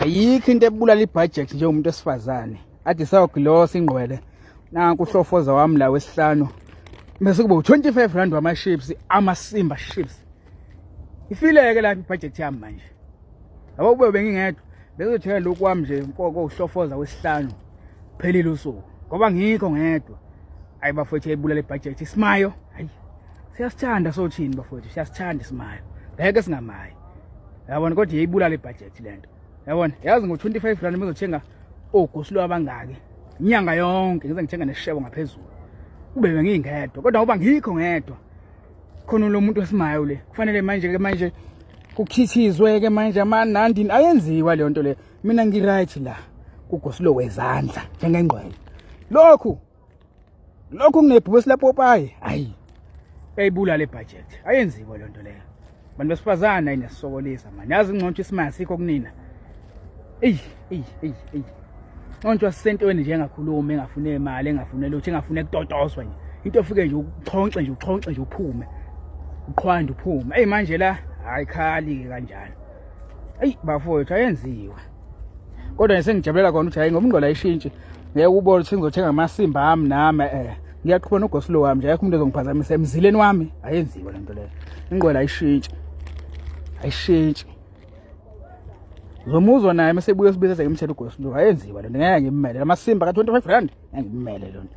ayikho into ebulala ibhajethi njengomuntu esifazane ade sawugilosa ingqwele nanku uhlofoza wami la wesihlanu bese kuba u-25 rand wama-ships amasimba ships ifileke lapha ibhajethi yami manje yabo kube bengingedwa bezothenga lokhu wami nje nkoko uhlofoza wesihlanu phelile usuku ngoba ngikho ngedwa ayi bafowethu yayibulala ibhajethi isimayo hayi siyasithanda sothini bafowethu siyasithanda isimayo ngeke singamayo yabona kodwa yeyibulala ibhajethi le nto yabona yazi ngo-twenty five rand mezothenga ogosulo abangaki inyanga yonke ngize ngithenga neshebo ngaphezulu kube bengingedwa kodwa ngoba ngikho ngedwa khona lo muntu esimayo le kufanele manje-ke manje kukhithizwe-ke manje amanandini ayenziwa leyo nto leyo mina ngiright la kugosulo wezandla njengengqwele lokhu lokho kunebhusi lapopayi ayi eyibula le budget ayenziwa le nto leyo bantu besifazane ayinesisokolisa mani yazi ingcontsho isimanga sikho kunina eyi eyi eyi eyi ncontshwa sisentweni nje engakhulumi engafune imali engafune lutho engafune kutotoswa nje into ofike nje uxhonxe nje uxhonxe nje uphume uqhwanda uphume eyi manje la hayi khali-ke kanjalo eyi bafowethu ayenziwa kodwa ngisengijabulela kona ukuthi hayi ngoba ingqola ishintshi ngeke ubone ukuthi ngizothenga amasimba ami nami eh ngiyaqhuba nogosilo wami nje akho umuntu ezongiphazamisa emzileni wami ayenziwe lento leyo ingqola ayishintshi ayishintshi ngomuzwa naye mase buye sibiza ngimthela ugosilo ayenziwe lento ngeke ngimele amasimba ka 25 rand ngeke ngimele lento